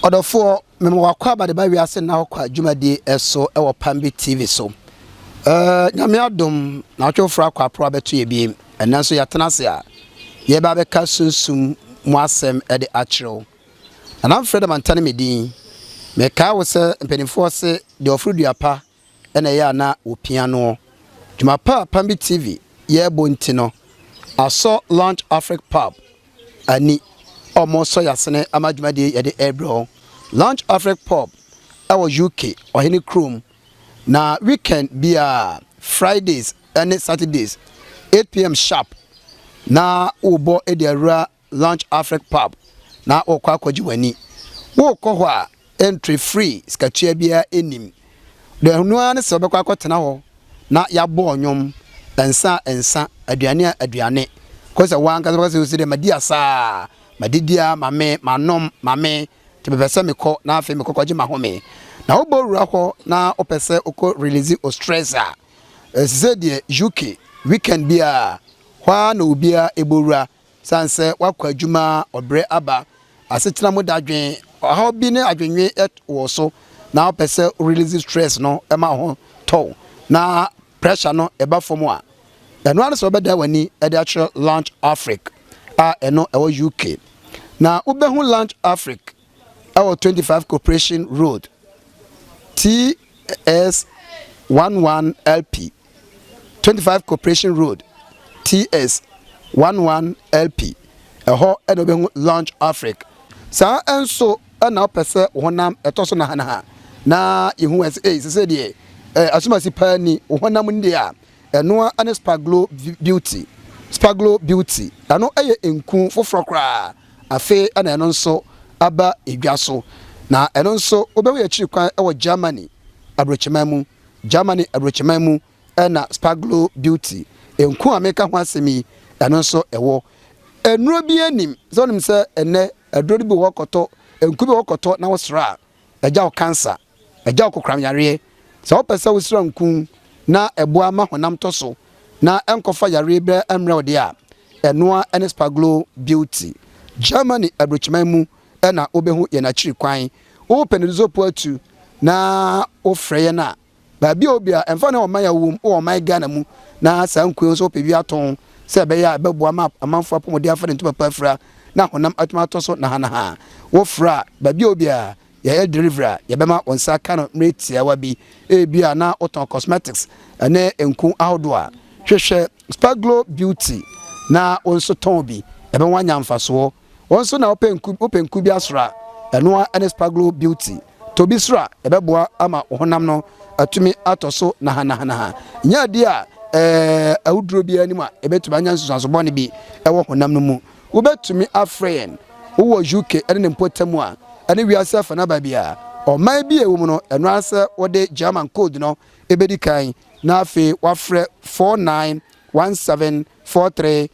Ɔdɔfoɔ, mema wo akwaaba de ba wiase nna hɔ kwa dwumadie so wɔ Pambi TV so. Ɛɛ, Nyame adom, nnawɔtwe foforɔ akɔ aporo abɛto yɛ biem. Ɛnnɛ nso yɛatena ase a yɛreba abɛka Sunsum mu asɛm de akyerɛ wo. Nana Mfrɛ Damanta ne me din. Mekae wo sɛ mpanimfoɔ se deɛ ɔforo dua pa na ɛyɛ a na wɔpia noɔ. Dwuma pa a Pambi TV yɛ bɔ nti no, asɔ Lounge Afrique Pub ani a wɔresɔ yɛn asene ama dwumadie yɛde rebrɛ wɔn. Lounge Afrique Pub wɔ UK, ɔhene kurom, na weekend biara, Fridays ne Saturdays, 8pm sharp na wɔbɔ de awura Launch Afrik Pub na wokɔ akɔgye w'ani. Wokɔ hɔ a, entry free, sikatua biara nnim. Deɛ ɛno ara ne sɛ wobɛkɔ akɔtena hɔ na yɛabɔ nnwom, nsa a nsa, aduane a aduane. Kɔ sɛ w'ankasa wobɛka sɛ ose dɛ madi asaa, madidi ara, ma me, manom, ma me, nti mepɛ sɛ mekɔ na afei mekɔ kɔgye m'ahome. Na wobɔ wura hɔ na wopɛ sɛ wokɔ release wo stress a, te sɛ deɛ UK, weekend biara, hɔ ara na obiara bɔ wura. Esiane sɛ woakɔ adwuma a ɔbrɛ aba, asetena mu dadwen, ɔhaw bi ne adwennwen wɔ wo so na wopɛ sɛ wo release stress no ma wo ho tɔ wo na pressure no ba fam a, ɛno ara ne sɛ wobɛdan w'ani de akyerɛ Launch Afrique a ɛno ɛwɔ UK. Na wobɛhu Launch Afrique ɛwɔ 25 Corporation Road, TS11LP. twenty five Corporation Road, TS one one LP. Ɛhɔ na wobɛhu Launch Afrique. Saa nso na wopɛ sɛ wo honam ɛtɔ so nahanaha na yɛhu ɛ sɛ ei sɛ sɛ deɛ eh, asomasi paa ni wo honam ni deɛ a ɛnoa ne Spaglo Beauty. Spaglo Beauty ɛno ɛyɛ nku foforɔ koraa afei ɛna ɛno nso aba edwa so na ɛno nso wobɛhu yɛ akyiri kwan ɛwɔ Germany aburokyeman mu. Germany aburokyiman mu na Sparglo Beauty, nku a meka ho asɛm yi, ɛno nso wɔ. Nnuro biara nnim sɛ wonim sɛ ɛnnɛ aduro no bi wɔ hɔ kɔtɔ, nku bi wɔ hɔ kɔtɔ na wosra a, ɛgya wo kansa, ɛgya wo kokoram yareɛ. Sɛ wopɛ sɛ wosra nku na ɛboa ma honam tɔ so na ɛnkɔfa yareɛ biara mmrɛ wo deɛ a, ɛnoa ne Sparglo Beauty, Germany aburokyiman mu na wobehu yɛn akyiri kwan. Wopɛ no dze po atu na wofrɛ yɛn a, baabi a obi a, ɛmfa ho ɔman a wowɔ mu, wɔ ɔman Ghana mu, na saa nkurow yi nso wopɛ bi atõ sɛ ɛbɛyɛ a ɛbɛboa ma amanfo apɔmuden afa ne ntoma pa afura na honam atum atõ so nahanaha a, wofrɛ a, baabi a obi a, yɛyɛ delivery a yɛbɛma wo nsa aka no mmere tiawa bi. Ebia na wotɔn cosmetics ne nku ahodoɔ a, hwehwɛ Sparglow Beauty na wo nso tɔn bi. Ɛbɛma woanya mfasoɔ. Wo nso na wopɛ nku wopɛ nku bi asra a, ɛno ara ne Spaglo Beauty. Tɔ bi sra, ɛbɛboa ama wo honam no atumi atɔ so nahanahanaha. Nya adi a ɛɛ awuduro biara nni mu a ɛbɛtumi anya nsunsuanso bɔne bi wɔ honam no mu. Wobɛtumi afrɛ yɛn wowɔ UK ne ne mpɔtam a, ne wiase afanaba biara. Ɔman bi a ɛwom no, ɛno ara ne sɛ wode German code no bɛdi kan na afei woafrɛ 491743.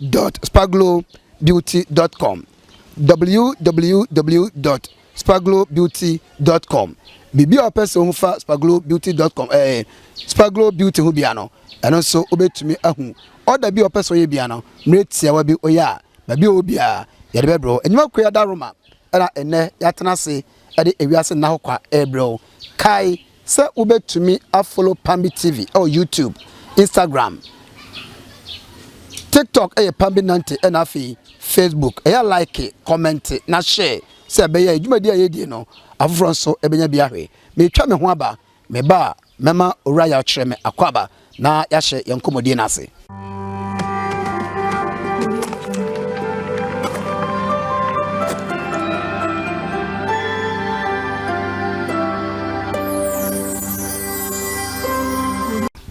dot spaglo beauty dot com www dot spaglo beauty dot com biribi a ɔpɛ sɛ ohu fa spaglo beauty dot com ɛɛ eh, spaglo beauty ho bia no ɛno nso wobɛtumi ahu ɔda bi a ɔpɛ sɛ ɔyɛ bia no mmerɛ tiawa bi ɔyɛ a baabi a ɔwɔ biara yɛde bɛbrɛ wo enyima kua da roma ɛna ɛnɛ yɛatena ase ɛde ewiase nna ho kwa ɛbrɛ wo kae Sɛ wobɛtumi a follow Pambi TV ɛwɔ YouTube, Instagram, TikTok ɛyɛ Pambi Nante ɛna afei Facebook ɛyɛ like, comment na share sɛ ɛbɛyɛ a dwumadie a yɛdie no afoforɔ nso ɛbɛnya bi ahwɛ. Meretwa me ho aba, meba a mɛma Owura Yaw kyerɛ me akwaaba Na yɛahyɛ yɛn nkɔmmɔdie no ase.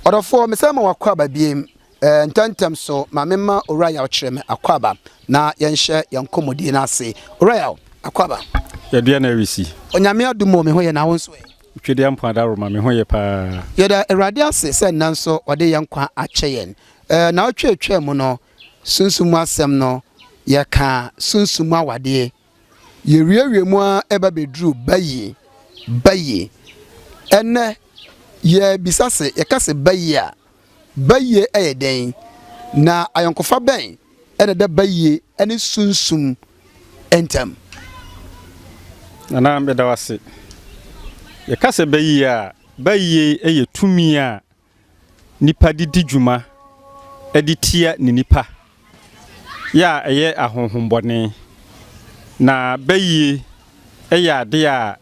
Ɔdɔfoɔ, mesane ma wo akwaaba biem. Eh, ntɛmntɛm so, ma memma Owura Yaw kyerɛ me akwaaba na yɛnhyɛ yɛn nkɔmmɔdie no ase. Owura Yaw, akwaaba. Yɛdeɛ na ɛresi. Onyame adom o, me ho yɛ na wo nso ɛ? Twedeɛ mpo ada roma me ho ye paa. Yɛda Awurade ase sɛ nnɛ nso ɔde yɛn nkwa akyɛ yɛn. Naawɔtwe a ɛtwaa mu no, sunsum mu asɛm no, yɛkaa sunsum mu awadeɛ. Yɛwiawiaa mu ara reba bɛduruu ba yie, ba yie. Ɛnnɛ, yɛrebisa se, yɛka se ba yie a, Bayie yɛ dɛn, na ayɔnkofa bɛn na ɛda bayie ne sunsum ntam? Nana, meda wo ase. Yɛka sɛ bayie a, bayie yɛ tumi a nipa de di dwuma de tia ne nipa yɛ a ɛyɛ ahonhommɔne, na bayie yɛ adeɛ a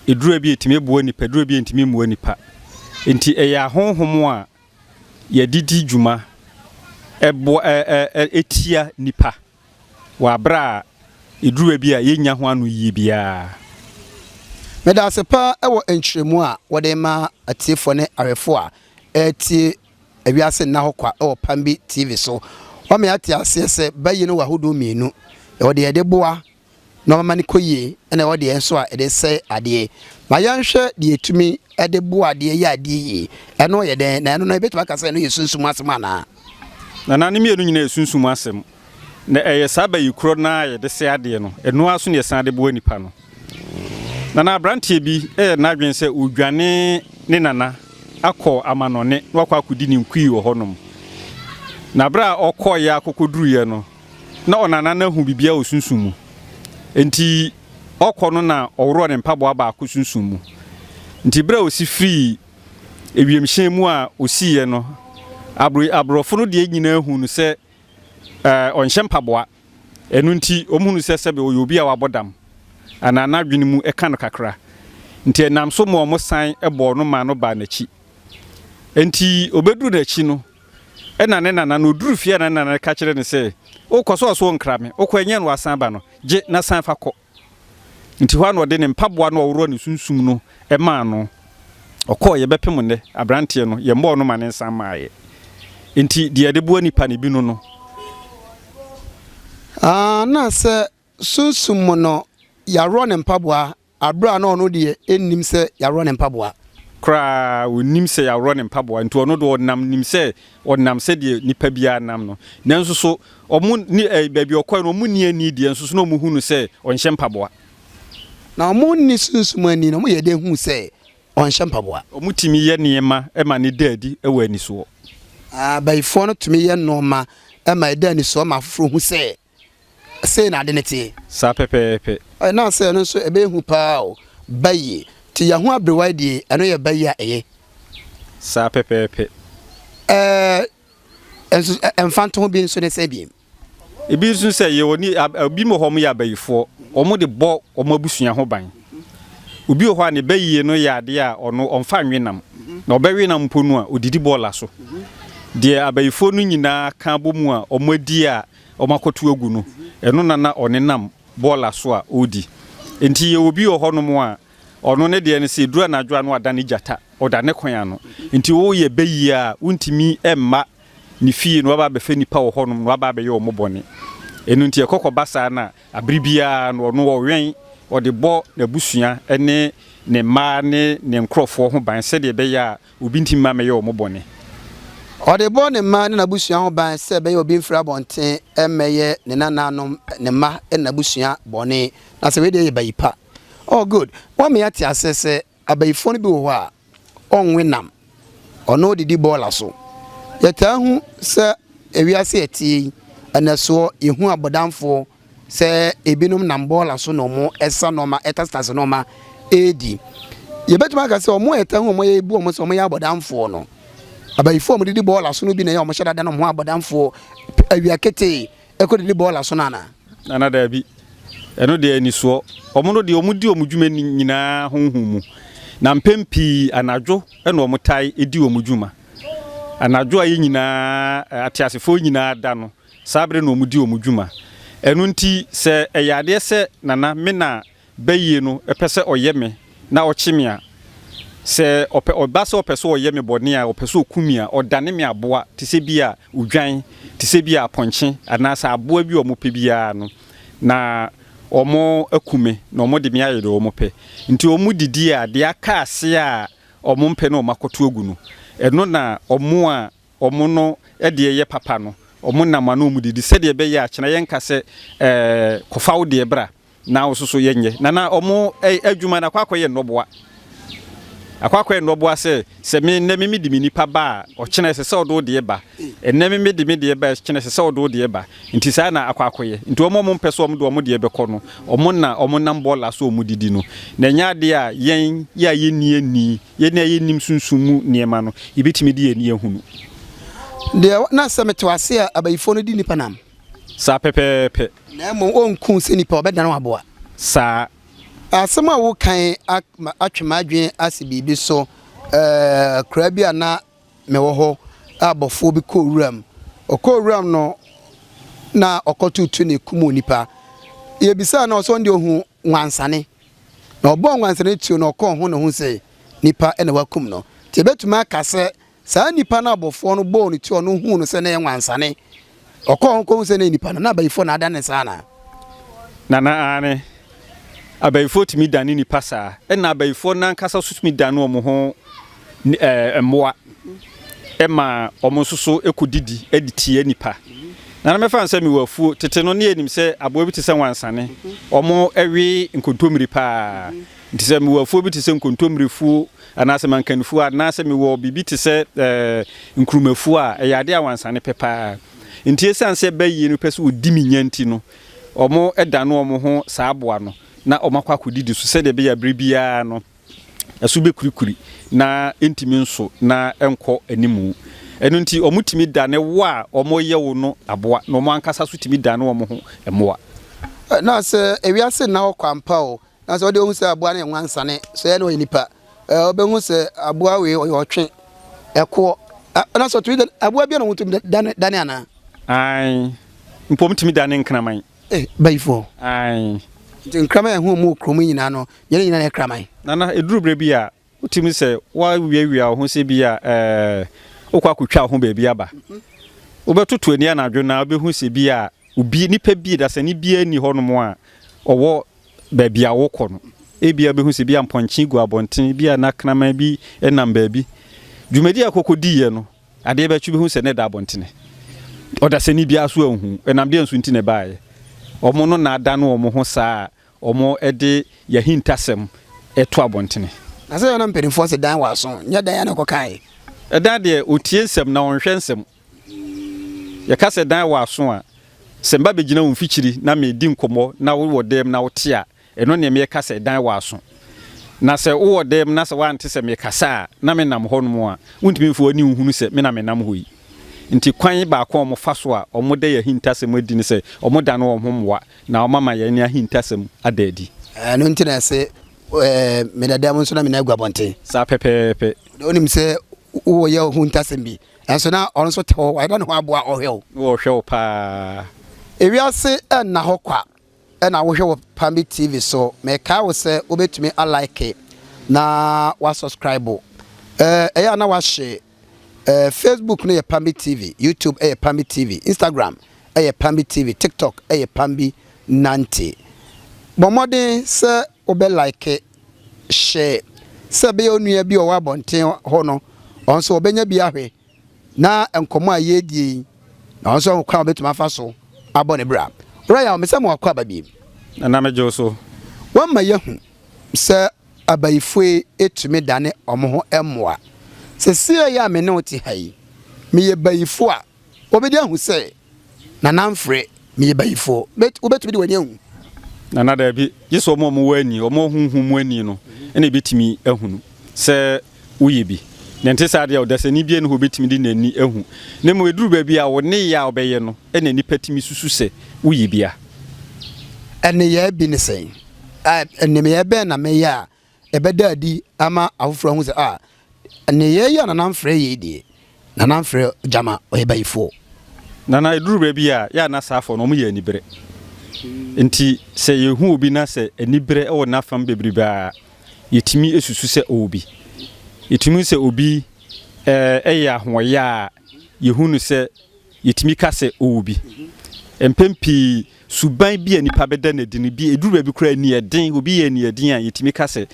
aduro bi a ɛtumi boa nipa, aduro bi a ɛntumi mmoa nipa. Nti ɛyɛ ahonhom a yɛde di dwuma ɛboa ɛ ɛ ɛ ɛtia nipa wɔ abere a aduro bi a yɛnnya ho ano yie biara. Meda ase paa wɔ nkyerɛmu a wode ma atiefoɔ ne awɛfoɔ a ɛretie Ewiase Nna Hɔ Kwa wɔ Pambi TV so. Wɔama yɛate aseɛ sɛ bayi no wɔ ahodoɔ mmienu, ɛwɔ deɛ yɛde boa na wɔma no kɔ yie ɛna ɛwɔ deɛ nso a yɛde sɛe adeɛ. Ma yɛnhwɛ deɛ yɛtumi de boa adeɛ yɛ adeɛ yie. Ɛno yɛ dɛn? Na ɛno no yɛbɛtumi aka sɛ ɛno yɛ sunsum asɛm anaa? Nana, ne mmienu nyinaa yɛ sunsum asɛm. Na ɛyɛ saa bayikorɔ no ara a yɛde sɛ adeɛ no, ɛno ara nso na yɛsan de boa nnipa no. Na na aberanteɛ bi yɛ n'adwene sɛ ɔredwane ne nana akɔ amanɔne na wakɔ akɔdi ne nkui wɔ hɔnom. Na berɛ a ɔkɔeɛ ara kɔkɔduruiɛ no, na ɔnana no ahu biribiara wɔ sunsum mu. Enti ɔkɔ no na ɔworɔɔ ne mpaboa baako sunsum mu. Nti berɛ a ɔsi firii wiemhyɛn mu a ɔsiiɛ no, abro aborɔfo no deɛ nyinaa huu no sɛ Ɛɛ, ɔnhyɛ mpaboa. Ɛno nti, wɔhunu sɛ sɛbe ɔyɛ obi a wabɔ dam anaa n'adwene mu ka no kakra. Nti ɛnam so ma wɔsan bɔɔ no maa no baa n'akyi. Enti ɔbɛduru n'akyi no, ɛna ne nana no, ɔduru fie a na ne nana no ka kyerɛ no sɛ, O kɔ so ɔso nkra me, wokɔ a ɛnyɛ na wasan aba no, gye na san fa kɔ. Nti hɔ a na ɔde ne mpaboa no a ɔworɔ ne sunsum no maa no. Ɔkɔeɛ bɛpem nnɛ aberanteɛ no, yɛmmɔɔ no ma no nsan maeɛ. Nti deɛ yɛde boa nnipa no bi no no. Aa na sɛ sunsum mu no yɛaworɔ ne mpaboa aberɛ a na ɔno deɛ ɛnnim sɛ yɛaworɔ ne mpaboa. Koraa, ɔnnim sɛ yɛaworɔ ne mpaboa. Nti ɔno deɛ ɔnam nim sɛ Ɔnam sɛdeɛ nipa biara nam no. Nanso so wɔn ne ɛɛ baabi ɔkɔɛ no wɔn nni ani deɛ nso so na wɔn hu no sɛ ɔnhyɛ mpaboa. Na wɔn nni sunsum ani na wɔn yɛ dɛn hu sɛ ɔnhyɛ mpaboa. Wɔn tumi yɛ nneɛma ma no da adi wɔ anisoɔ. Abayifoɔ no tumi yɛ nnoɔma ma ɛda anisoɔ ma afoforɔ hu sɛ. Sei na ade no teɛ. Saa pɛpɛɛpɛ. Ɛ na sɛ ɛno nso ɛbɛyɛ hu paa o, ba yie. Nti yɛn ho aberewa yi deɛ, ɛno yɛ ba yie a ɛyɛ. Saa pɛpɛɛpɛ. Ɛ nso ɛ mfantoho bi nso ne sɛ biem. Ebi nso sɛ yɛ wɔ ni a ebi wɔ hɔ wɔn yɛ abayifoɔ, wɔn de bɔ wɔn abusua ho ban. Obi wɔ hɔ a ne ba yie no yɛ adeɛ a ɔno ɔnfa nwe nam, na ɔbɛwe nam mpo no a ɔdidi bɔɔla so. Deɛ abayifoɔ no nyinaa ka abɔ mu a wɔn adi a wɔakɔto agu no, ɛno na na ɔnenam bɔɔla so a ɔredi. Enti yɛwɔ bi wɔ hɔnom a, ɔno ne deɛ no sɛ ɛduru anadwo a na wadane gyata, ɔda ne kwan ano. Enti woyɛ bayie a, wontumi mma ne fie na waba abɛfɛ nnipa wɔ hɔnom na waba abɛyɛ wɔn bɔne. Ɛno nti ɛkɔ kɔba saa no a, berɛ biara no ɔno ɔwɛn, ɔde bɔ n'abusua ne ne mmaa ne ne nkurɔfoɔ ho ban sɛdeɛ ɛbɛyɛ a, Obi nti mma mɛyɛ wɔn bɔne. Ɔde bɔ ne mma ne n'abusua ho ban sɛ ɛbɛyɛ a obi mfiri abɔnten mmɛyɛ ne nananom, ne mma ne n'abusua bɔne. Na sɛ wei deɛ yɛ bayi pa. Oh good, woama yɛate aseɛ sɛ abayifoɔ no bi wɔ hɔ a ɔnwe nam, ɔno ɔdidi bɔɔla so. Yɛtaa hu sɛ wiase a ɛteɛ yi, ɛnɛsoɔ, yɛhu abɔdamfoɔ Sɛ ebinom nam bɔɔla so na wɔsa nneɛma, ɛtasitase nneɛma redi. Yɛbɛtumi aka sɛ wɔn a ɛtaa hu wɔn a yɛbu wɔn sɛ wɔyɛ abɔdamfoɔ no, abayifo a wɔdidi bɔɔla so no bi na ɛyɛ a wɔhyɛ dada no ho abɔdamfoɔ awia ketee kɔdidi bɔɔla so no anaa? Anaa daabi. Ɛno deɛ anisoɔ. Wɔn no deɛ wɔdi wɔn dwuma nyinaa honhom mu, na mpɛn pii anadwo na wɔtae di wɔn dwuma. Anadwo a yɛn nyinaa, ateasefoɔ nyinaa da no, Saa bere no wɔdi wɔn dwuma. Ɛno nti, sɛ ɛyɛ adeɛ sɛ Nana Mena bayie no pɛ sɛ ɔyɛ me na ɔkye me a, sɛ ɔpɛ, ɔba sɛ ɔpɛ sɛ ɔyɛ me bɔne a, ɔpɛ sɛ ɔku me a, ɔdane me aboa te sɛ bi a odwan, te sɛ bi a apɔnkye anaa sɛ aboa bi a wɔpɛ biara no, na wɔaku me na wɔde me ayɛ deɛ wɔpɛ. Nti wɔdidi a, deɛ aka ase a wɔmpɛ na wɔakɔto agu no, ɛno na wɔn a wɔn no deɛ yɛ papa no, wɔn nam ano wɔn didi sɛdeɛ ɛbɛyɛ a kyena yɛnka sɛ ɛɛ kɔfa wo deɛ bra na wo soso yɛnyɛ na na wɔn adwuma no akɔ akɔyɛ nnɔboa akɔ akɔyɛ nnɔboa sɛ sɛ me nnɛ me me de me nipa ba a ɔkyena ɛsɛ sɛ ɔde wo deɛ ba ɛnɛ me me de me deɛ ba a kyena ɛsɛ sɛ ɔde wo deɛ ba nti saa na akɔ akɔyɛ nti wɔn a wɔn mpɛ so wɔn de wɔn deɛ bɛkɔ no wɔn na wɔn nam bɔɔla so wɔn didi no na ɛnyɛ adeɛ a yɛn yɛ a yɛnni ani Yɛn a yennim sunsum mu nneɛma no, yebetumi de yɛn ani ahu no. Deɛ na sɛ mete ase a abayifoɔ no di nnipa nam. Saa pɛpɛɛpɛ. Na mmom wɔnku sɛ nipa, wɔbɛdan wɔn aboa. Saa. Asɛm a woka yi atwe m'adwene asi biribi so. Akuraa bi a na mewɔ hɔ a bɔfoɔ bi kɔɔ wuram. Ɔkɔɔ wuram no na ɔkɔtoto na ekum onipa. Yebisaa no a ɔsɛ ɔno deɛ ohu wansane. Na ɔbɔɔ nwansena no tuo na ɔkɔɔ ho ne ho sɛ nipa na wakum no. Nti yɛbɛtumi aka sɛ saa nipa no a abɔfoɔ no bɔɔ no tuo a ɔno huu no sɛ na ɛyɛ nwansane, ɔkɔɔ ho kɔhu sɛ na ɛyɛ nipa no, na abayifoɔ na adane saa anaa? Nana, Aane. Abayifoɔ tumi dane nipa saa. Ɛna abayifoɔ no ankasa nso tumi dane wɔn ho ne mmoa ma wɔn nso so kɔdidi de tia nnipa. Na na mɛfa no sɛ mewɔ afuo. Tete no, na yɛnim sɛ aboa bi te sɛ wansane, wɔwe nkontommire paa. Nti sɛ mewɔ afuo bi te sɛ nkontommirefuo anaasɛ mankanifuo anaasɛ mewɔ biribi te sɛ ɛɛ nkurumafuo a, ɛyɛ adeɛ a wansane pɛ paa. Nti esiane sɛ ɛba yie no pɛ sɛ wɔdi me nya nti no, wɔdane wɔn ho saa aboa no na wɔakɔ akɔdidi so sɛdeɛ ɛbɛyɛ a berɛ biara no, ɛso bɛkurikuri na ɛntumi nso na ɛnkɔ anim. Ɛno nti, wɔtumi dane wo a wɔreyɛ wo no aboa, na wɔn ankasa nso tumi dane wɔn ho mmoa. Na sɛ ewiase nna hɔ kwa ampa o, na sɛ wɔde wɔn hu sɛ aboa no yɛ nwansane, sɛ ɛyɛ na ɔyɛ nipa, wɔbɛhu sɛ aboa wei ɔyɛ ɔtwe, ɛkoɔ. Na sɛ ɔtumi dane aboa bi na wɔtumi dane anaa? Ae, mpo wɔtumi dane nkraman. Eh, bayifoɔ. Ae. Nti nkraman a ɛho mmu kurom yi nyinaa no, yɛn nyinaa yɛ kraman? Nana, ɛduru berɛ bi a, wotumi sɛ woawiawia wo ho sɛ bi a eh, wokɔ akɔtwa wo ho baabi aba. Wobɛtoto ani anadwo no a, wobɛhu sɛ bi a obi, nipa bi, dasani biara nni hɔnom a ɔwɔ baabi a wokɔ no. Ebia wobɛhu sɛ bi a mpɔnkye gu abɔnten, bi a na kraman bi nam baabi. Dwumadi a kɔkɔdiiɛ no, Adeɛ bɛtwe bɛhu sɛ na ɛda abɔntene. Ɔdasani biara nso anhu. Ɛnam deɛn so nti na ɛbaeɛ? Wɔn no na adane wɔn ho saa a wɔde yɛn ahintasɛm reto abɔntene. Na sɛ yɛn na mpanimfoɔ se dan w'aso, nyɛ dɛn ara na ɔkɔkaeɛ? Dan deɛ, ɔtie nsɛm na ɔnhwɛ nsɛm. Yɛka sɛ dan w'aso a, sɛ meba bɛgyina wo mfikyiri na meredi nkɔmmɔ na wowɔ dan mu na wote a, Eno neɛ meɛka sɛ dan w'aso. Na sɛ wowɔ dan mu na sɛ woante sɛ mekasa a, na menam hɔnom a, wontumi mfa w'ani nhunu sɛ me na menam hɔ yi. Nti kwan baako a wɔfa so a wɔda yɛn ahintasɛm adi ne sɛ wɔdane wɔn ho mmoa na wɔama yɛn ahintasɛm ada adi. Ɛno nti na ɛse, Meda dan mu nso na menan agu abɔnten. Saa pɛpɛɛpɛ. Na wonim sɛ woyɛ wo ho ahintasɛm bi, nanso na ɔno nso te hɔ, wayera ne ho aboa ɔhwɛ wo. Na ɔhwɛ wo paa. Ewiase nna hɔ kwa. na wohwɛ wɔ Pambi TV so. Mekae wo sɛ wobɛtumi a like na wa subscribe. Ɛyɛ a na wahye Facebook no yɛ Pambi TV, YouTube ɛyɛ Pambi TV, Instagram ɛyɛ Pambi TV, TikTok ɛyɛ Pambi Nante. Bɔ mmɔden sɛ wobɛ like, share sɛ ɛbɛyɛ onua bi ɔwɔ abɔnten hɔ no ɔno nso ɔbɛnya bi ahwɛ. na nkɔmmɔ a yɛredie yi na ɔno nso ahu kwan a ɔbɛtumi afa so abɔ ne bra. Owura Yaw, mesa mo akɔ aba bio. Ɛna megye wo so. Wɔama yɛahu sɛ abayifoe tumi dane wɔn ho mmoa. Seesei a me ne wo te ha yi, meyɛ bayifo a, wobedi ahu sɛ. Nana mfre, meyɛ bayifoɔ. Bet, wobɛtumi de w'ani ahu? Nana, daabi, gye sɛ wɔn a wɔwɔ ani, wɔn a honhom mu ani no, na ɛbɛtumi ahunu sɛ woyɛ bi. Na ɛnte saa deɛ, ɔdasani biara nni hɔ a ɔbɛtumi de n'ani ahu. Na mmom ɛduru baabi a, wo nneyɛɛ a wobɛyɛ no na nnipa tumi susu sɛ woyɛ bi a. Nneyɛɛ bi ne sɛn? Nneyɛɛ bɛn na meyɛ a ɛbɛda adi ama afoforɔ ahu sɛ, ah, nneyɛɛ yi a Nana mfrɛ yei deɛ, Nana mfrɛ gyama ɔyɛ bayifoɔ. Nana ɛduru baabi a, yɛ a na saafoɔ no wɔyɛ aniberɛ. Nti sɛ yɛhu obi na sɛ aniberɛ wɔ n'afam bebrebe a, yɛtumi susu sɛ ɔwɔ bi. Yɛtumi hu sɛ obi yɛ ahoɔyaa a, yɛhu no sɛ. Yetumi ka sɛ owu bi. Mpɛn pii, suban bi a nnipa bɛda no adi no bi, eduru baabi koraa a, ani yɛ den. Obi yɛ aniɛden a, yetumi ka sɛ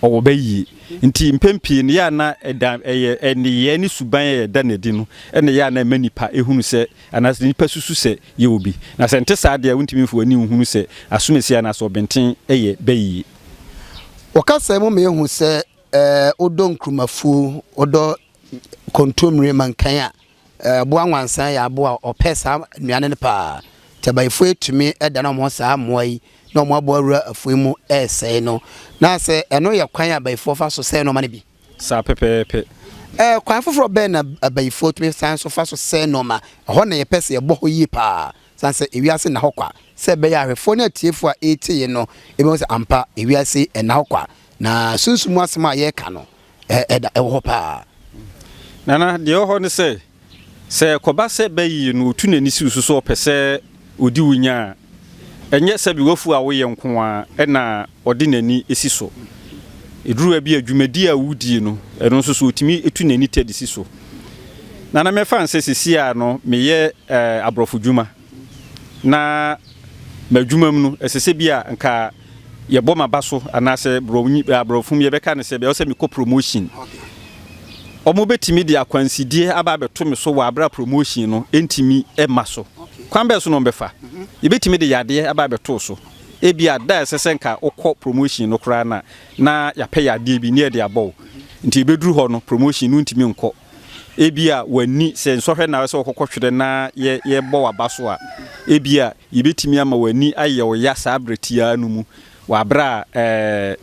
ɔwɔ bayie. Enti mpɛn pii no, ɛyɛ a na ɛda, ɛyɛ nneyɛe ne suban a yɛda no adi no na ɛyɛ a na ɛma nnipa hunu sɛ, anaasɛ nnipa susu sɛ yɛwɔ bi. Na sɛ ɛnte saa deɛ a, wontumi mfa w'ani nhunu sɛ asomasie anaasɛ ɔbenten yɛ bayie. Ɔkasa mu ma yɛhu sɛ wodɔ Nkrumafuo, wodɔ Kontomire mankan a, Aboa nwansa yɛ aboa a ɔpɛ saa nnuane no paa. Nti abayifo atumi dan wɔn ho saa mmoa yi na wɔn aboa wura afuw mu resɛe no. Na sɛ ɛno yɛ kwan a abayifoɔ fa so sɛe nnoɔma no bi? Saa pɛpɛɛpɛ. Kwan foforɔ bɛn na abayifoɔ tumi san so fa so sɛe nnoɔma? Ɛhɔ na yɛpɛ sɛ yɛbɔ hɔ yie paa, sane sɛ ewiase nna hɔ kwa, sɛ ɛbɛyɛ a ahwɛfoɔ ne atiefoɔ a ɛretie yɛn no bɛhu sɛ ampa ewiase nna hɔ kwa, na sunsum mu asɛm a yɛreka no ɛda ɛwɔ hɔ paa. Nana, deɛ ɛwɔ hɔ ne sɛ, sɛ ɛkɔba sɛ bɛyee no ɔtu n'ani si wo so sɛ ɔpɛ sɛ ɔdi wo nya a, ɛnyɛ sɛbe w'afuo a woyɛ nko ara na ɔde n'ani si so. Ɛduru baabi a, dwumadie a wodie no, ɛno nso so ɔtumi tu n'ani tɛ de si so. Nana, mɛfa no sɛ seesei a no meyɛ ɛɛ aborɔfo dwuma, na m'adwumam no, ɛsɛ sɛ bi a nka Yɛbɔ m'aba so anaasɛ aborɔfo mu yɛbɛka no sɛ bia ɔsɛ mekɔ promotion. Ɔmo bɛtumi de akwansideɛ aba abɛto me so wɔ aberɛ a promotion no ntumi mma so. Kwan bɛn so na ɔmo bɛfa? Yɛbɛtumi de yadeɛ aba abɛto wo so. Ebia da a ɛsɛ sɛ nka wokɔ promotion no koraa no a na yɛapɛ yadeɛ bi na yɛde abɔ wo. Nti ɛbɛduru hɔ no promotion no wontumi nkɔ. Ebia w'ani sɛ nsɔhwɛ na sɛ wɔkɔkɔhwere na yɛbɔ w'aba so a, ebia yebetumi ama w'ani ayɛ wo ya saa bere tiaa no mu, wɔ bere a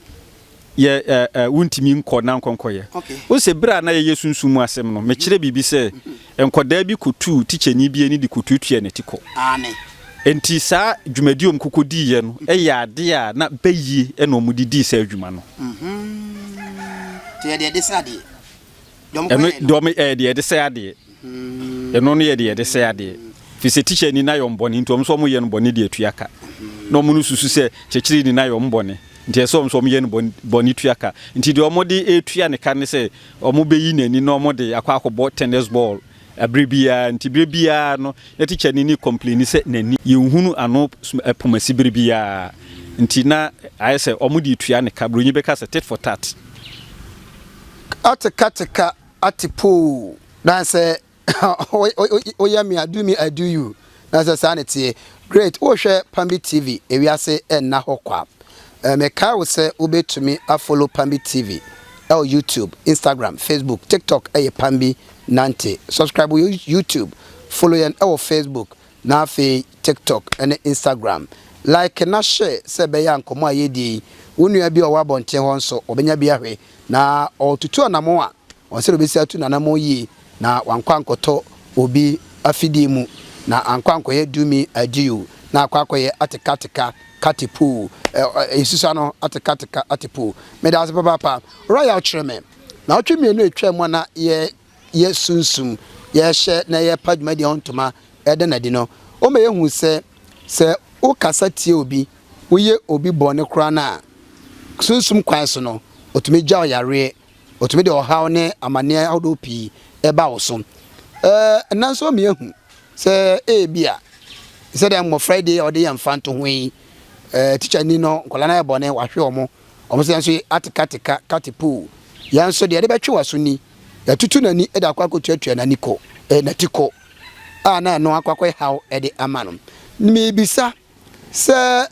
yɛ wuntumi nkɔ na nkɔnkɔyɛ. Wohu sɛ bere a na yɛyɛ sunsum mu asɛm no, mekyerɛ biribi sɛ nkwadaa bi kotuu tikyani bi ani de kotuatuaa n'ati kɔ. Enti saa dwumadi a wɔkɔkɔdiiɛ no yɛ ade a na bayie na wɔde dii saa dwuma no. Ɛno dɔm ɛyɛ eh, deɛ yɛde sɛ adeɛ. Hmm. Ɛno no yɛ deɛ yɛde sɛ adeɛ. Fi sɛ tikya ni na yɛ ɔmbɔne nti ɔmo nso ɔmo yɛ no bɔne de atua ka. Na ɔmo no susu sɛ kyekyere ni na yɛ ɔmo bɔne nti ɛsɛ ɔmo nso ɔmo yɛ no bɔne tua ka. Nti deɛ ɔmo de etua ne ka ne sɛ ɔmo bɛyi n'ani na ɔmo de akɔ akɔbɔ tennis ball Bere biara nti bere biara no na tikya no ni complaini sɛ nani yɛnhunu ano pomasi bere biara nti na ayɛ sɛ ɔmo de tua ne ka broni bɛka sɛ tit for tat. Ate ka te ka ate poo. Dansɛ woyɛ me a do me I do you Na sɛ saa na ɛteɛ, great, worehwɛ Pambi TV, ewiase nna hɔ kwa. Mekae wo sɛ wobɛtumi a follow Pambi TV ɛwɔ YouTube, Instagram, Facebook, TikTok ɛyɛ Pambi Nante. Subscribe wɔ YouTube, follow yɛn ɛwɔ Facebook na afei TikTok ɛne Instagram. Like na share sɛ ɛbɛyɛ a nkɔmmɔ a yɛredie yi, wo nua bi a ɔwɔ abɔnten hɔ nso ɔbɛnya bi ahwɛ na ɔretutu anamɔn a ɔnsɛ dɛ ɔbɛsi atu n'anamɔn yie na wankɔ ankɔtɔ obi afidie mu, na ankɔ ankɔyɛ dumi adio, na akɔ akɔyɛ atekateka katepoo, ɛ, ɛ, nsusa no, atekateka atepoo. Meda ase papaapa. Ɔra yaw kyerɛ me. Na ɔtwe mmienu a ɛtwaa mu a na yɛ, yɛ sunsum, yɛ hyɛ na yɛ pa dwumadie ho ntoma ɛda no adi no, ɔma yɛ hu sɛ, sɛ wo kasa tia obi, wo yɛ obi bɔne koraa no a, sunsum kwan so no, ɔtumi gyaw yareɛ. Otumi de ɔhaw ne amanneɛ ahodoɔ pii ba wo so. Ɛnnɛ nso meahu sɛ ebia sɛdeɛ mmɔfra yi deɛ a wɔde yɛ mfantoho yi, tikya ni no, nkwadaa no ayɛ bɔne, wahwe wɔn, wɔn nso yɛn nso ate kateka, kate poo. Yɛn nso deɛ yɛde bɛtwe w'aso ni, yɛatutu n'ani de akɔ akɔtuatua n'ani ko, n'ati ko, a na ɛno akɔ akɔyɛ haw de ama no. Mebisa. Sɛ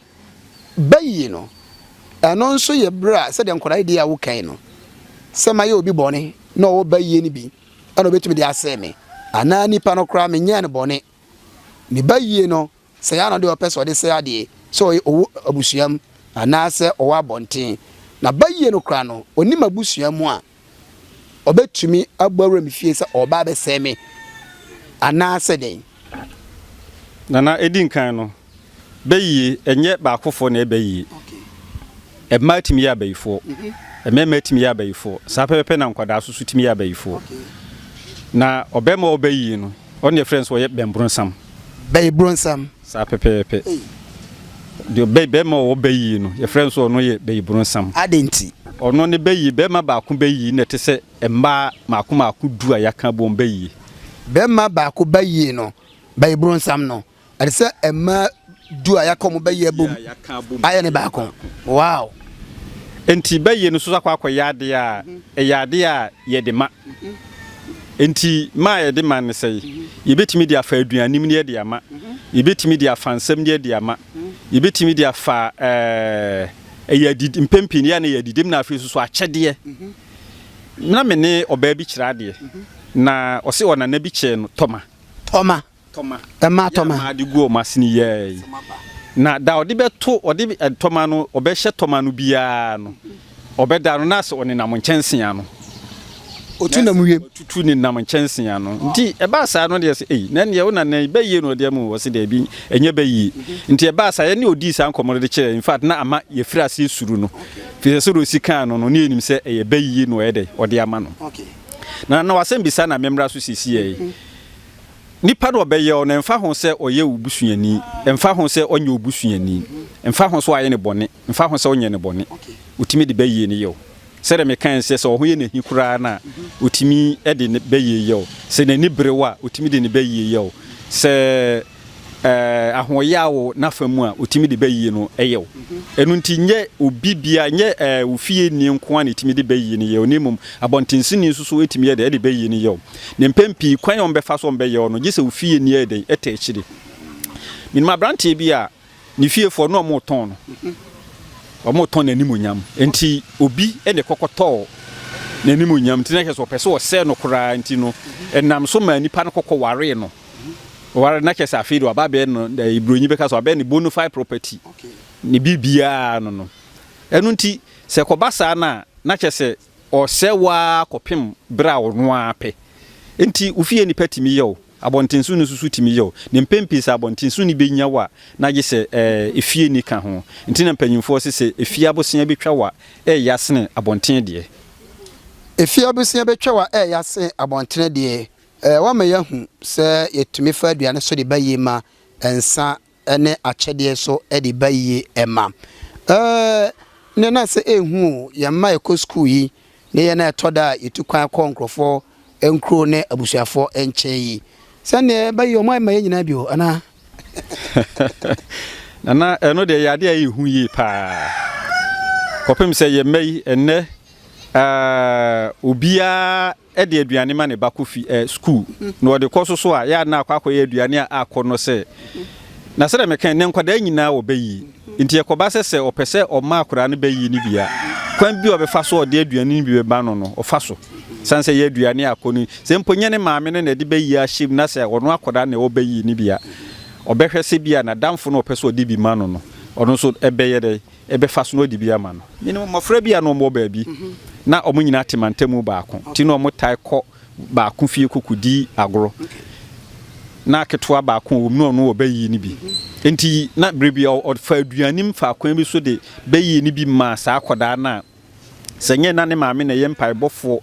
bayi no, ɛno nso yɛ berɛ a sɛdeɛ nkwadaa yi deɛ a wokae no, sɛ mayɛ obi bɔne na ɔwɔ bayie no bi ɛna ɔbɛtumi de asɛe me anaa nipa no koraa menyɛɛ no bɔne. Ne bayie no, sɛ yɛ ano deɛ ɔpɛ sɛ ɔde sɛ adeɛ, sɛ ɔyɛ ɔwɔ abusuam anaasɛ ɔwɔ abɔnten. Na bayie no koraa no, ɔnim abusua mu a, ɔbɛtumi abɔ awura me fie sɛ ɔreba abɛsɛe me anaasɛ dɛn? Nana, ɛdi nkan no, bɛyie, ɛnyɛ baakofoɔ na ɛyɛ bɛyie. Mmaa tumi yɛ abayifoɔ, mm-hmm. mmarima tumi yɛ abayifoɔ, saa pɛpɛpɛ na nkwadaa so so tumi yɛ abayifoɔ. Na ɔbɛrima ɔbɛyie no, ɔne ɛfrɛ nso ɔyɛ bɛnbronsam. Bɛyɛ bronsam. Saa pɛpɛɛpɛ. Deɛ bɛ, bɛɛma a ɔwɔ bɛyii no, yɛfrɛ no sɛ ɔno yɛ bɛyibronsam. Adɛn nti? Ɔno ne bɛyii, bɛɛma baako bɛyii no na ɛte sɛ mmaa mmaako mmaako du a yɛaka abom bɛyii. Bɛɛma baako bɛyii no, bɛyibronsam no, ɛte sɛ mmaa du a yɛaka wɔn bɛyii abom ayɛ no baako. Wow! Enti bɛyii no nso akɔ akɔyɛ adeɛ a ɛyɛ adeɛ a yɛde ma. Enti ma a yɛde ma ne sɛe. Yebetumi de afa aduanim de adi ama. Yebetumi de afa nsɛm de adi ama. Yebetumi de afa eh, ɛyɛ adidi, mpɛn pii no yɛ na ɛyɛ adidim na afei nso so akyɛdeɛ. Na me ne ɔbaa bi kyerɛ adeɛ, na ɔse ɔnana bi kyɛɛ no tɔma. Tɔma. tɔma. Ɛmaa tɔma. Yɛ a made gu wɔn asene yi ara yi. Na da ɔde bɛto, ɔde tɔma no, ɔbɛhyɛ tɔma no biara no, ɔbɛda no, na sɛ ɔnenam nkyɛnsee ano. Ɔtu nam wiem. Ɔtutu nenam nkyɛnsee ano. Nti ɛbaa saa no deɛ sɛ, ei, na ɛneɛ wo nana yi, bɛyie na ɔde ama o, ɔse daabi, ɛnyɛ bɛyie. Nti ɛbaa saa, yɛne ɔdii saa nkɔmmɔ no de kyerɛɛ, in fact, na ama yɛfiri aseɛ suru no, firi sɛ sɛdeɛ ɔsi kaa no no, na yɛnim sɛ ɛyɛ bɛyie na ɔyɛ dɛn, ɔde ama no. Na na wasɛm bi saa na memmra so seesei ara yi. Nipa no ɔbɛyɛ wo no, ɛmfa ho sɛ ɔyɛ wo busuani, ɛmfa ho sɛ ɔnyɛ wo busuani, ɛmfa ho sɛ wayɛ no bɔne, ɛmfa ho sɛ wonyɛɛ no bɔne, otumi de bɛyie no yɛ wo. Sɛdeɛ mekae sɛ, sɛ wo ho yɛ no ahi koraa no a, otumi de ne bɛyie yɛ wo. Sɛ n'ani bere wo a, otumi de ne bɛyie yɛ wo. Sɛ. Ahoɔyaa wɔ n'afa mu a otumi de ba yiye no yɛ wo. Ɛno nti, nyɛ obi biara, nyɛ wo fieni nko ara na etumi de ba yiye no yɛ wo, na mmom abɔntensinni nso so tumi yɛ dɛn de ba yiye no yɛ wo. Na mpɛn pii, kwan a wɔbɛfa so a wɔbɛyɛ wo no, gye sɛ wo fieni yɛ dɛn? Tɛ akyiri. Minim aberante bi a. Ne fiefoɔ na wɔretɔn no, wɔretɔn n'animuonyam. Nti obi na ɛkɔkɔtɔɔ n'animuonyam nti na kyerɛ sɛ ɔpɛ sɛ ɔsɛe no koraa nti no ɛnam so maa nipa no kɔkɔ waree no. Ɔware na kyerɛ sɛ afei de waba bɛyɛ no eh, Buronyi bɛka sɛ wabɛyɛ ne bona fide property ne biribiara no no. Ɛno nti sɛ ɛkɔba saa no a na kyerɛ sɛ Ɔsɛe wo ara kɔpem bere a ɔno ara pɛ. Enti wo fie nnipa tumi yɛ wo, abɔnten so nni nso so tumi yɛ wo, na mpɛn pii sɛ abɔnten so nni benya wo a, na gye sɛ efie nni ka ho. Enti na mpanyimfoɔ se sɛ efie abosea bi twa wo a, ɛyɛ asene abɔnten deɛ. Efie abosea bi twa wo a, ɛyɛ asene abɔntene deɛ. Ɛɛ, woama yɛahu sɛ yɛtumi fa aduane so de ba yie ma nsa. ne akyɛdeɛ so de ba yie ma. Ɛɛh, nnɛ na sɛ ɛhu o, yɛn mma a ɛkɔ sukuu yi, ne yɛn a ɛtɔ da a yɛtu kwan kɔ nkurɔfoɔ nkuro ne abusuafoɔ nkyɛn yi. Sɛdeɛ ba yi, wɔayɛ ma yɛn nyinaa bi o, anaa? Nana, ɛno deɛ ɛyɛ adeɛ a ɛyɛ hu yie paa. Kɔpem sɛ yɛn mma yi, ɛnnɛ, ɛɛh, obiara. de aduane ma ne ba kɔ fi eh, sukuu, na ɔde kɔ so so a, yɛ a na akɔ akɔyɛ aduane a akɔ no sɛ. Na sɛdeɛ meka nnɛ nkwadaa nyinaa wɔ ba yi, nti ɛkɔba sɛ sɛ ɔpɛ sɛ ɔma akwadaa no ba yi no bi a, kwan bi a ɔbɛfa so a ɔde aduane no bi bɛma no no, ɔfa so. Sane sɛ ɛyɛ aduane a akɔ no, sɛ mpo nyɛ ne maame no na ɛde ba yi ahyɛ mu na sɛ ɔno akwadaa na ɛwɔ ba yi no bi a, ɔbɛhwɛ sɛ bi a n'adamfo no ɔpɛ sɛ ɔde bi ma no no, ɔno nso ɛbɛyɛ dɛ, bɛfa so na ɔde bi ama no. Menim mmɔfra bi a na wɔwɔ baabi, na wɔn nyinaa te mantam mu baako, nti na wɔtaa kɔ baako fie kɔkɔdi agorɔ. Na ketewa baako a ɔwɔ mu no, ɔno wɔ bayie no bi, nti na berɛ biara ɔfa aduane mu fa akwan bi so de bayie no bi ma saa akwadaa no a Sɛ ɛnyɛ na ne maame na ɛyɛ mpaebɔfoɔ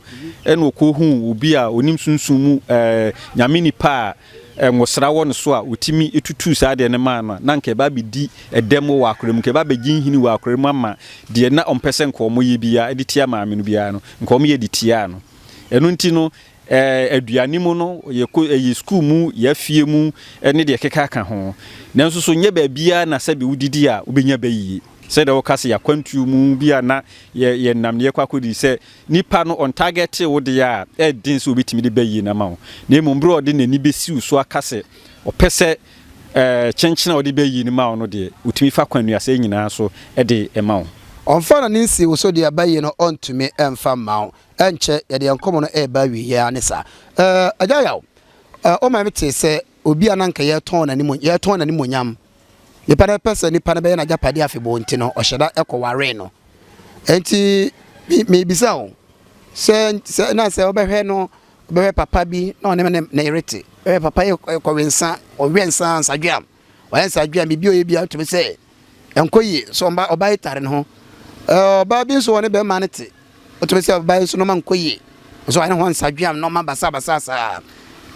ɛna ɔkɔ hu obi a ɔnim sunsum mu ɛɛ nyame nipa a ɛnwosra wɔ ne so a ɔtumi tutuu saa deɛ no maa no a na nka ɛba abɛdi ɛdɛm wɔ akora mu nka ɛba abɛgye nhini wɔ akora mu ama deɛ na ɔmpɛ sɛ nka ɔmo yɛ biara ɛde tia maame no biara no nka ɔmo yɛ de tiaa no ɛno nti no ɛɛ aduane mu no yɛ kɔ ɛyɛ sukuu mu yɛ afie mu ɛne deɛ keka ka ho nanso so nyɛ baabiara na sɛbi wodidi a wobɛnya bɛyie. Sɛdeɛ woka sɛ y'akwantuo mu bi a na yɛ yɛnam na yɛkɔ akɔdi sɛ nipa no ɔntargɛte wo deɛ a, ɛyɛ den sɛ obɛtumi de ba yie no ama wo. Na mmom berɛ a ɔde n'ani bɛsi wo so aka sɛ ɔpɛ sɛ ɛɛ kyenkyen a ɔde ba yie no ma wo no deɛ, ɔtumi fa kwan nnuaseɛ nyinaa so de ma wo. Ɔmfa n'ani nsi wo so deɛ ɛba yie no ɔntumi mfa mma wo. Ɛnkyɛ yɛde yɛn nkɔmmɔ no reba awieeɛ ara ne saa. Ɛɛ Agya Yaw, ɛɛ womae me tee sɛ obi a na anka yɛretɔn n'animony yɛretɔn n'animuonyam Nnipa no pɛ sɛ nnipa no bɛyɛ n'agyapadeɛ afebɔɔ nti no, ɔhyɛ da kɔwaree no. Enti mebisa wo sɛ, sɛ na sɛ wobɛhwɛ no bɛhwɛ papa bi na ɔne ne ne yere te bɛhwɛ papa yi kɔwe nsa ɔwɛ nsa nsadweam ɔyɛ nsadweam biribi ɔyɛ bi atumi sɛ ɛnkɔ yie sɛ ɔba ɔba yi tare ne ho ɔbaa bi nso ɔne bɛrima no te ɔtumi sɛ ɔbaa yi nso nɔma nkɔ yie nso ɔyɛ ne ho nsadweam nɔma basabasa saa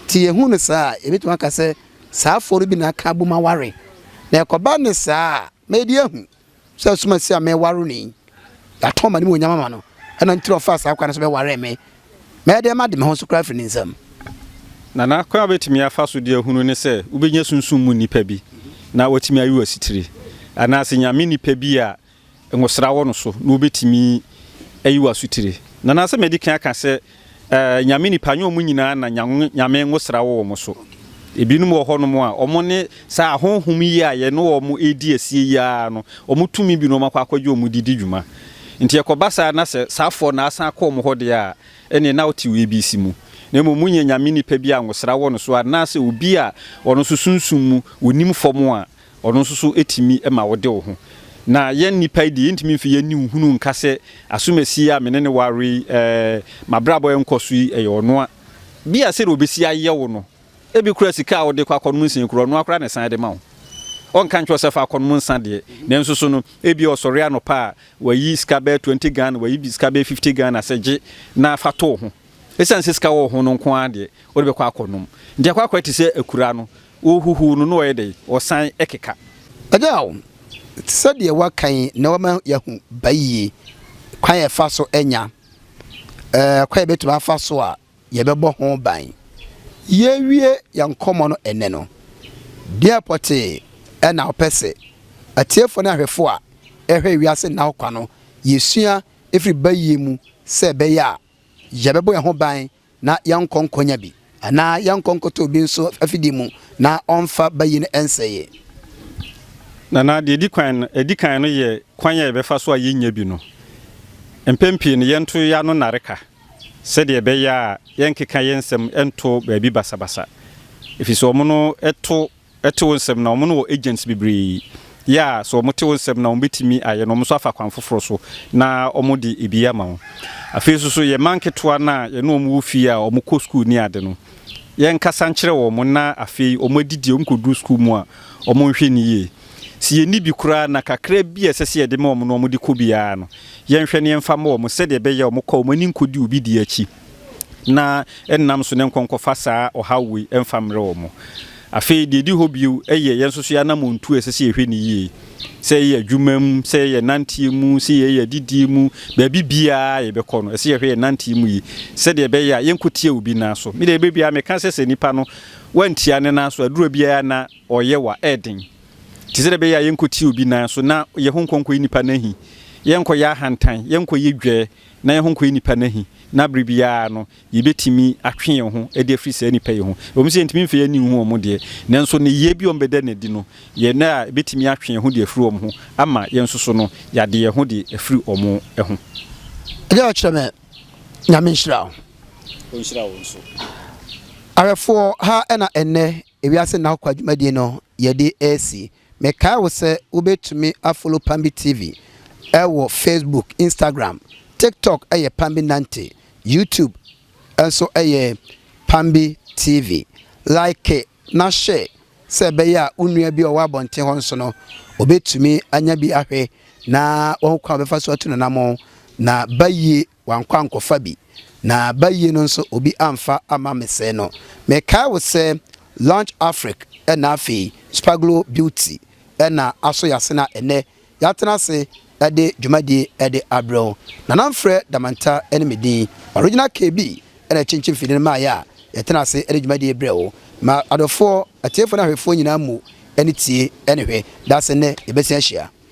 ti yɛhu no saa yɛbɛtumi aka sɛ Saa afoɔ no bi na aka abom aware. Na ɛkɔba ne saa a, madi ahu sɛ asomasi a meware no yi, yɛatɔn m'animuonyam ama no, ɛna nti na ɔfaa saa kwan no so bɛwaree me. Mɛyɛ dɛn made me ho so koraa afiri ne nsam? Na na kwan a wobɛtumi afa so de ahunu ne sɛ wobɛnya sunsum mu nnipa bi na wɔatumi ayi wo asitire, anaasɛ nyame nnipa bi a ngosra wɔ no so na wobetumi ayi wo asotire. Na na sɛ madi kan aka sɛ, eh, Nyame nnipa nyɛ wɔn nyinaa na Nya Nyame ngosra wɔ wɔn so. Ebinom wɔ hɔnom a wɔn ne saa ahonhom yi a yɛne wɔn redi asie yi ara no, wɔn tumi binom akɔ akɔgye wɔn de di dwuma. Nti ɛkɔba saa na sɛ saafoɔ no asan akɔ wɔn hɔ deɛ a, ɛnneɛ na wote wei bi si mu. Na mmom monyɛ Nyame nnipa bi a ngosra wɔ no so anaasɛ obi a ɔno nso sunsum mu, onim fam a, Ɔno nso so tumi ma wode wo ho. Na yɛn nnipa yi deɛ, yɛntumi mfi yɛn ani nhunu nka sɛ asomasie yi a me ne no ware yi, ɛɛ, m'abrabɔ a ɛnkɔ so yi, ɛyɛ ɔno a. Bia sɛdeɛ ɔbɛsi ayɛ wo no, ebi koraa sika a wode kɔ akɔnom nsa yi koraa, ɔno ara koraa na ɛsan de ma wo. Ɔnka nkyerɛ wo sɛ fa akɔnom nsa deɛ, nanso so no, ebia ɔsɔre anɔpa a, wayi sika bɛyɛ twenty Ghana, wayi sika bɛyɛ fifty Ghana sɛ gye na fa to wo ho. Esiane sɛ sika wɔ wo ho no nko ara deɛ, wode bɛkɔ akɔnom. Nti akwakoraa te sɛ akuraa no, wohuhuw no na ɔyɛ dɛn? Ɔsan keka. Agyaw, te sɛ deɛ wɔaka yi na wɔama yɛahu bayie kwan a yɛfa so nya kwan a yɛbɛtumi afa so a yɛbɛbɔ ho ban. Yɛrewie yɛn nkɔmmɔ no ɛnnɛ no, deɛn pɔtee na wopɛ sɛ atiefoɔ ne ahwɛfoɔ a ɛrehwɛ Wiase Nna Hɔ Kwa no yɛsua firi bayie mu sɛ ɛbɛyɛ a Yɛbɛbɔ yɛn ho ban na yɛnkɔ nkɔnya bi, anaa yɛnkɔ nkɔtɔ obi nso afidie mu na ɔmfa bayi no nsɛe yɛn. Nana, deɛ ɛdi kwan no, ɛdi kan no yɛ kwan a yɛbɛfa so a yɛnnya bi no. Mpɛn pii no, yɛnto yɛn ano nnareka sɛdeɛ ɛbɛyɛ a yɛrenkeka yɛn nsɛm nto baabi basabasa, ɛfiri sɛ wɔn no to te wo nsɛm na wɔn no wɔ agents bebree yɛ a sɛ wɔn te wo nsɛm na wɔn bɛtumi ayɛ na wɔn nso afa kwan foforɔ so na wɔn de ebi ama wo afei nso so yɛ mma nketewa no a yɛne wɔn wɔ fie a wɔn kɔ sukuu ne ade no yɛ nkasa nkyerɛ wɔn na afei wɔn adidi wɔn kɔduru sukuu mu a wɔn nhwɛ ne yie sɛ yɛ ni bi koraa na kakra bi a ɛsɛ sɛ yɛde ma wɔn no wɔn de kɔ biara no yɛnhwɛ ne yɛmfa ma wɔn sɛdeɛ ɛbɛyɛ wɔn kɔ wɔn ani nkɔdi obi di akyi na nnam so ne nkɔnkɔfa saa ɔhaw wei mfa mmerɛ wɔn. Afei deɛ ɛdi hɔ bio yɛ yɛn nso so yɛn anamɔntuo a ɛsɛ sɛ yɛhwɛ no yie. Sɛ yɛyɛ adwuma mu, sɛ yɛyɛ nanteɛ mu, sɛ yɛyɛ adidie mu, baabi biara yɛbɛkɔ no, ɛsɛ sɛ yɛhwɛ yɛn nanteɛ mu yie sɛdeɛ ɛbɛyɛ a yɛnkɔtia obi nan so. Me deɛ ɛbɛ biara meka sɛ sɛ nipa no wantia ne nan so aduro biara na ɔyɛ wa ɛden nti sɛdeɛ ɛbɛyɛ a yɛnkɔtia obi nan so na yɛho nkɔnkɔyi nipa no ahi, yɛnkɔyɛ ahantan, yɛnkɔyɛ dwɛ, na yɛn ho nkɔyɛ nnipa no ahi, na bere biara no yebetumi atwe yɛn ho de afiri saa nnipa yi ho. Ɛwom sɛ yentumi mfa yɛn ani nhu wɔn deɛ, nanso nneyɛe bi a wɔbɛda no adi no, yɛn nna a ebetumi atwe yɛn ho de afiri wɔn ho ama yɛn nso so no, yɛade yɛn ho de afiri wɔn ho. Agya ɔkyerɛ me Nyame nhyira wo. Ɔnhyira wo nso. Awerɛfoɔ ha na ɛnnɛ ewiase nna hɔ kwa dwumadie no yɛde resi. Mekae wo sɛ wobɛtumi a follow Pambi TV wɔ Facebook, Instagram, TikTok yɛ Pambi Nante, YouTube nso yɛ Pambi TV. Like na share sɛ ɛbɛyɛ a wo nua bi a ɔwɔ abɔnten hɔ nso no ɔbɛtumi anya bi ahwɛ na wahu kwan a ɔbɛfa so atu n'anammɔn na ba yie Wankɔ ankɔfa bi, na bayie no nso obi amfa amma me sɛɛ no. Mekae wo sɛ Lounge Afrique ɛna afei Spaglo Beauty ɛna aso yɛase na ɛnɛ yɛatena ase ɛde dwumadie ɛde abrɛ wo. Nana Mfrɛ Damanta ɛne me din. Original KB ɛna ɛkyinkyin mfidie no maa yɛ a yɛtena ase ɛde dwumadie yi brɛ wo. Ma adɔfoɔ, atiefoɔ ne ahwɛfoɔ nyinaa mmu ani tie ɛne hwɛ. Daase nnɛ yɛbɛsan ahyia.